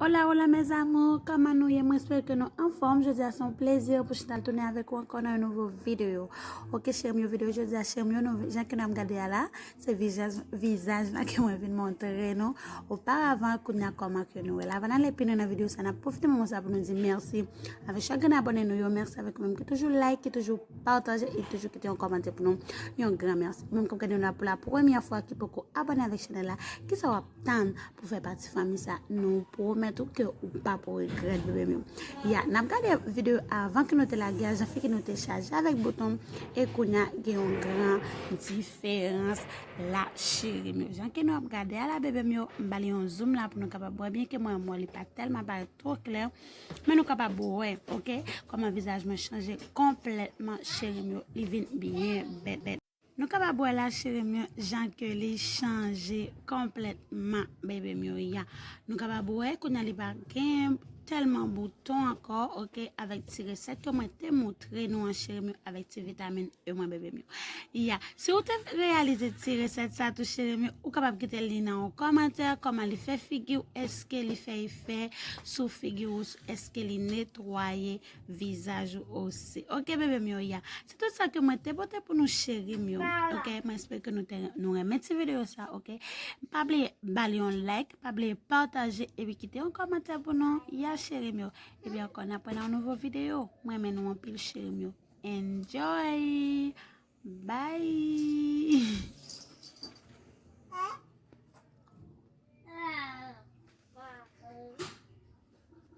Hola hola mes amours, kòman nou ye mwen espere ke nou anfòm, jodi a son plezi pou chita tounen avèk ou ankò nan yon nouvo video ok chèm yo video jodi a chèm yo nou jan ke nap gade a la se vizaj vizaj la ke mwen vin montre nou oparavan kounye a kòman ke nou wè la avan nale pi lwen nan video sa nap pwofite moman sa pou nou di mèsi avèk chak grenn abòne nou yo mèsi avèk ou menm ki toujou like ki toujou pataje e toujou kite yon kòmantè pou nou yon gran mèsi menm kap gade nou la pou la premyè fwa ki poko abòne avèk chanèl la kisa wap tann pou fè pati fanmi sa nou pwomèt ou ke ou pap regrèt bebe m yo ya nap gade video avan ke nou te lage a jan fi ke nou te chaje avèk bouton e kounya gen yon gran diferans la cheri m yo jan ke nou ap gade a la bebe m yo m ba li yon zoom la pou nou kapab wè byen ke mwen mwen li pa telman parèt two klè men nou kapab wè ok kòman vizaj mwen chanje konplètman cheri m yo li vin byen bèbèt. Nou kapab wè la cherim yo jan ke li chanje konplètman bebe m yo ya nou kapab wè kounya li pa gen tèlman bouton ankò ok avèk ti resèt yo mwen te moutre nou an cherim yo avèk ti vitamin e mwen bebe m yo ya si ou te reyalize ti resèt sa tou cherim yo ou kapab kite li nan yon kòmantè kòman li fè figi ou eske li fè efè sou figi ou eske li netwaye Vizaj ou osi. Ok bebe m yo ya. Se tout sa ke mwen te pote pou nou cheri m yo. Ok, mwen espere ke nou renmen ti video sa. Ok, pa bliye bal yon like, pa bliye pataje, epi kite yon komantè pou nou. Ya cheri m yo. Epi anko nan pwè nan yon nouvo video. Mwen renmen nou anpil cheri m yo. Enjoy! Bye!